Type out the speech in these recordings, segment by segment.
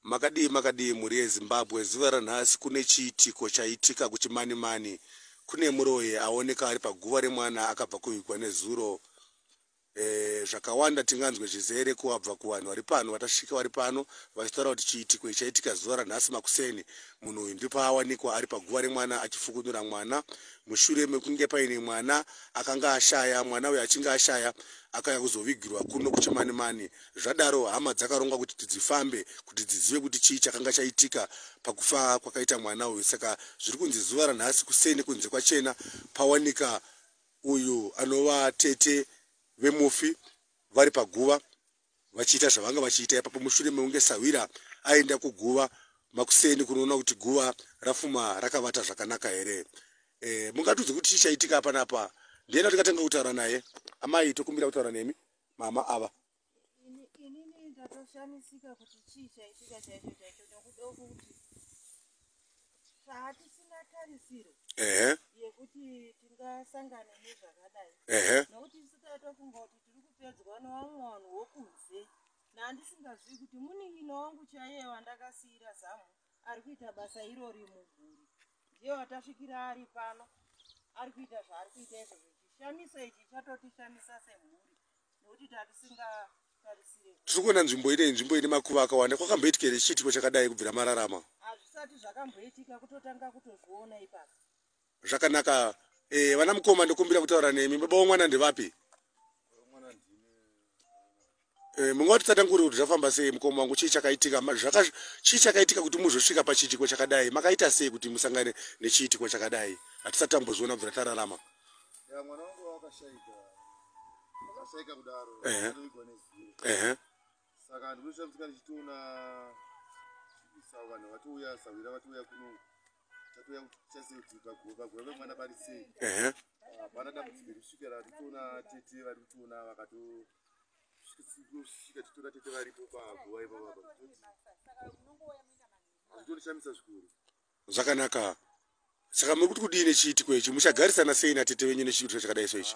Makadii makadii mhuri yeZimbabwe zuva ranhasi kune chiitiko chaitika kuChimanimani kune muroyi aoneka ari paguva remwana akabva kuvigwa nezuro eh, zvakawanda tinganzwe chizere kuwabva kuvanhu vari pano vatasvika vari pano vachitaura kuti chiitiko chaitika zuva ranhasi makuseni munhu uyu ndipo awanikwa ari paguva remwana achifukunura mwana mushure mekunge paine mwana akanga ashaya mwana uyu achinge ashaya akauya kuzovigirwa kuno kuChimanimani Zvadaro hama dzakaronga kuti tidzifambe kuti dzizive kuti chii chakanga chaitika pakufa kwakaita mwana uyu saka zviri kunzi zuva ranhasi kuseni kunze kwachena pawanika uyu anova tete vemufi vari paguva vachiita zvavanga vachiita ipapo mushure mekunge sahwira aenda kuguva makuseni kunoona kuti guva rafuma rakavata zvakanaka here e, mungatudzi kuti chii chaitika apanapa ndiye ndatikatanga kutaura naye amai tokumbira kutaura nemi mama ava inini ndatoshamisika kuti chii chaitika chaicho chaicho nekuda kuti haatisina tarisiro ehe yekuti tingasangane nezvakadai ehe nokuti isu taitofunga kuti tiri kupedzwa nowamwe vanhu wokunze nandisingazivi kuti munin'ina wangu chaiye wandakasiira zamu ari kuita basa irori mumhuri ndiye watasvikira ari pano ari kuita zvaari kuita izvo zvichishamisa ichi chatotishamisa semhuri nekuti tatisingatarisire tiri kuona nzvimbo ine nzvimbo ine makuva akawanda kwakamboitika here chiitiko chakadai kubvira mararama hazvisati zvakamboitika kutotanga kutozviona ipapa zvakanaka eh, vana mukoma ndokumbira kutaura nemi baba wemwana ndevapi eh, munga vatitsatanguri kuti zvafamba sei mukoma wangu chii chakaitika chii chakaitika kuti muzosvika pachiitiko chakadai makaita sei kuti musangane nechiitiko chakadai hatisati tamboziona bvira tararama saka ndinoshamisika ndichitoona sauvanhu vatiuya sahwira vatiuya kuno hapana dambudziko rikusvika ratitoona tete vari kutiona vakatosvika titoona tete varipo paguva ipapapa hazvitonishamisa zvikuru zvakanaka saka muri kuti kudii nechiitiko ichi muchagarisana sei natete venyu nechiitiko chakadai so ichi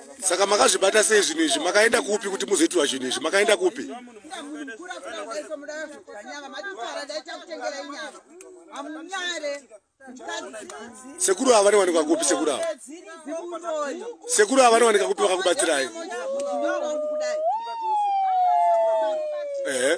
saka makazvibata sei zvinhu izvi makaenda kupi kuti muzoitirwa zvinhu izvi makaenda kupi sekuru ava vanowanikwa kupi sekuru ava sekuru ava vanowanika kupi vakakubatsirai ehe